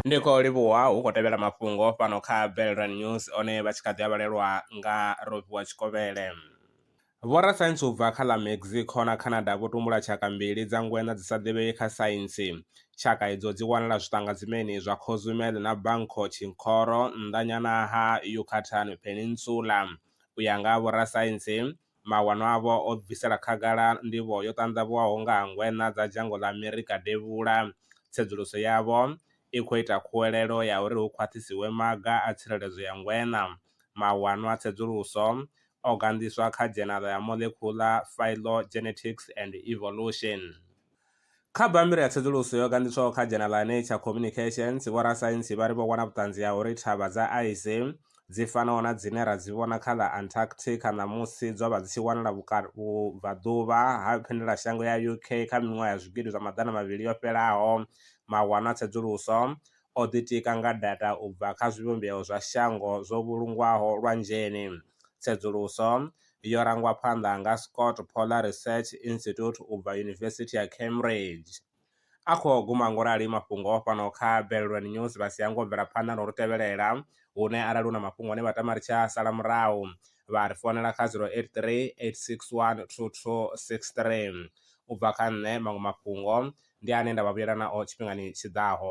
Ndi khou livhuwa hu khou tevhela mafhungo fhano kha Velrun News one vha tshi kha ḓi a vhalelwa nga Rofhiwa Tshikovhele. Vhorasaintsi u bva kha ḽa Mexico na Canada vho tumbula tshaka mbili dza ngweṋa dzi sa ḓivhei kha saintsi. Tshaka idzo dzi wanala zwiṱangadzimeni zwa Cozumel na Banco Chinchorro nnḓanyana ha Yucatan Peninsula. U ya nga ha vhorasaintsi, Mawanwa avho o bvisela khagala nḓivho yo ṱanḓavhuwaho nga ha ngweṋa dza dzhango ḽa Amerika Devhula. Tsedzuluso yavho i khou ita khuwelelo ya uri hu khwaṱhisiwe maga a tsireledzo ya ngweṋa. Mawanwa a tsedzuluso o ganḓiswa kha Dzhenala ya Molecular Phylogenetics and Evolution. Kha bammbiri ya tsedzuluso yo gandiswaho kha dzhenala Nature Communications, vhorasaintsi vha ri vho wana vhuṱanzi ha uri thavha dza aise, dzi fanaho na dzine ra dzi vhona kha ḽa Antarctica ṋamusi, dzo vha dzi tshi wanala vhubvaḓuvha ha vhuendelamashango ya UK kha miṅwaha ya zwigidi zwa maḓana mavhili yo fhelaho. Mawanwa a tsedzuluso o ḓitika nga data u bva kha zwivhumbeo zwa shango zwo vhulungwaho lwanzheni. Tsedzuluso yo rangwa phanḓa nga Scott Polar Research Institute u bva Yunivesithi ya Cambridge. A khou guma ngo rali mafhungo o fhano kha Belrwen News vha si hangwe u bvela phanḓa na u ri tevhelela, hune arali hu na mafhungo ane vha tama ri tshi a sala murahu, vha ri founela kha 083 861 2263. U bva kha nṋe, maṅwe mafhungo ndi ane nda vha vhuyela nao tshifhingani tshi ḓaho.